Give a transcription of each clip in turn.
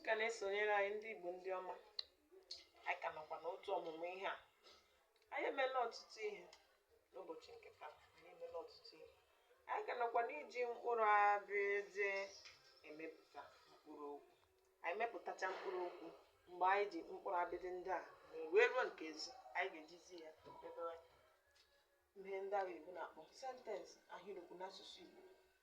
ka na-esonyere anyị ndị Igbo ndị ọma anyị ka nọkwa n'otu ọmụmụ ihe a anyị emela ọtụtụ ihe n'ụbọchị nke taa anyị emela ọtụtụ ihe anyị ka nọkwa n'iji mkpụrụ abịdị emepụta mkpụrụ okwu anyị mepụtacha mkpụrụ okwu mgbe anyị ji mkpụrụ abịdị ndị a wee ruo nke z anyị ga-ejizi ya edebe ihe ndị ahụ oyibo na-akpọ sentensị ahịrịokwu n'asụsụ Igbo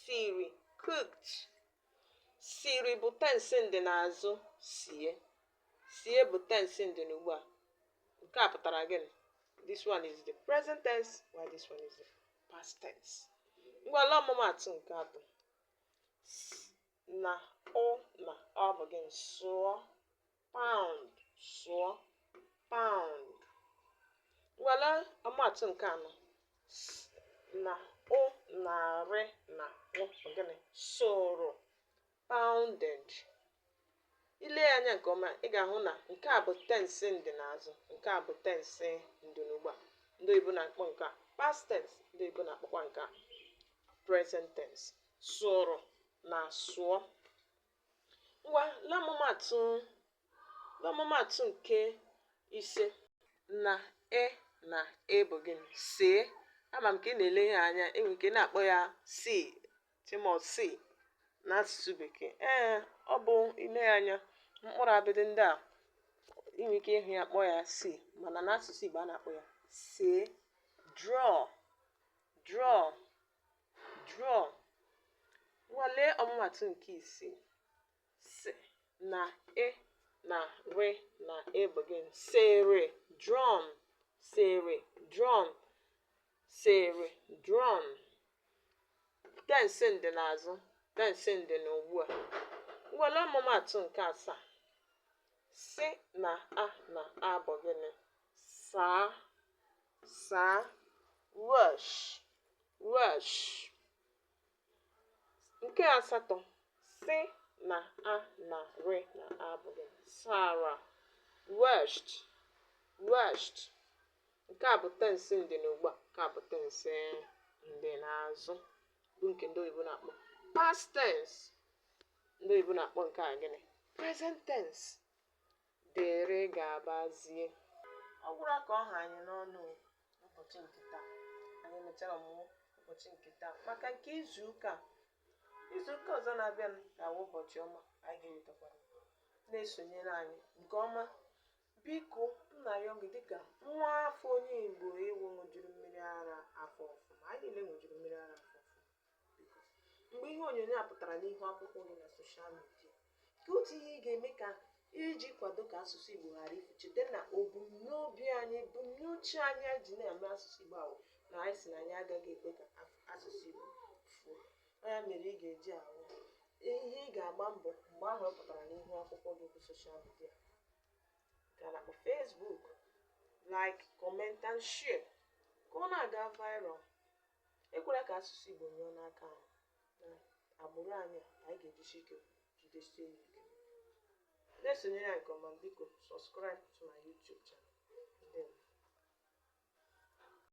Siri, cooked. Siri bụ tensi ndị n'azụ sie. Sie bụ tensi ndị n'ugbu a. Nke a pụtara gịnị? This one is the present tense while this one is the past tense. Ngwa lee ọmụmaatụ nke atọ. S na ụ na ọ bụ gịnị? Sụọ. pound sụọ pound ngwa lee ọmụmaatụ nke anọ s na ụ na rị na ụ bụ gịnị sụrụ pounded i lee ya anya nke ọma ị ga-ahụ na nke a bụ tense ndị n'azụ nke a bụ tense ndị n'ugbu a ndị oyibo na-akpọ nke a past tense ndị oyibo na-akpọkwa nke a present tense sụrụ na sụọ Ngwa lee ọmụmaatụ lee ọmụmaatụ nke ise na e na e bụ gịnị see ama m ka ị na-ele ihe anya i nwe ike na-akpọ ya see chimọ see n'asụsụ bekee ee ọ bụ i lee ya anya mkpụrụ abịdị ndị a i nwe ike ịhụ ya kpọọ ya see mana n'asụsụ Igbo a na-akpọ ya see draw draw Draw. Ngwa lee ọmụmatụ nke isii. Si na e na re na e bụ gịnị? Sere drawn. Sere drawn. Sere drawn. Tensi ndị n'azụ. Tensi ndị na ugbu a. Ngwa lee ọmụmatụ nke asaa. Si na a na a bụ gịnị? Saa. Saa. Wash. Wash nke asatọ sị na a na re na a bụ gịnị sara washed washed nke a bụ tensi ndị na ugbu a nke a bụ tensi ndị n'azụ bụ nke ndị oyibo na-akpọ past tense ndị oyibo na-akpọ nke a gịnị present tense Dere gabazie. Ọ gwụla ka ọ ha anyị n'ọnụ o n'ụbọchị nke taa. Anyị emechara ọmụmụ ụbọchị nke taa maka nke izu ụka a. Izu ụka ọzọ na-abịanụ ga-awụ ụbọchị ọma anyị ga-ewetakwara. Na-esonyere anyị nke ọma. Biko, m na-arịọ gị dịka nwa afọ onye Igbo ị wụ ṅụjuru mmiri ara afọ ọfụma. Anyị niile ṅụjuru mmiri ara afọ ọfụma. mgbe ihe onyonyo a pụtara n'ihu akwụkwọ gị na soshal midia ka otu ihe ị ga-eme ka iji kwado ka asụsụ Igbo ghara ifu cheta na ebumnobi anyị ebumnuche anyị ji na-eme asụsụ Igbo ahụ na anyị sị na anyị agaghị ekwe ka asụsụ Igbo fuo ya mere ị ga-eji ahụ ihe ị ga-agba mbọ mgbe ahụ ọ pụtara n'ihu akwụkwọ gị bụ soshal midia ka na Facebook like comment and share ka ọ na-aga viral Ekwela ka asụsụ Igbo nyụọ n'aka anyị na agbụrụ anyị a anyị ga-ejisi ike jidesie ya ike. Na-esonyere anyị nke ọma biko subscribe to my YouTube channel. Ndewo.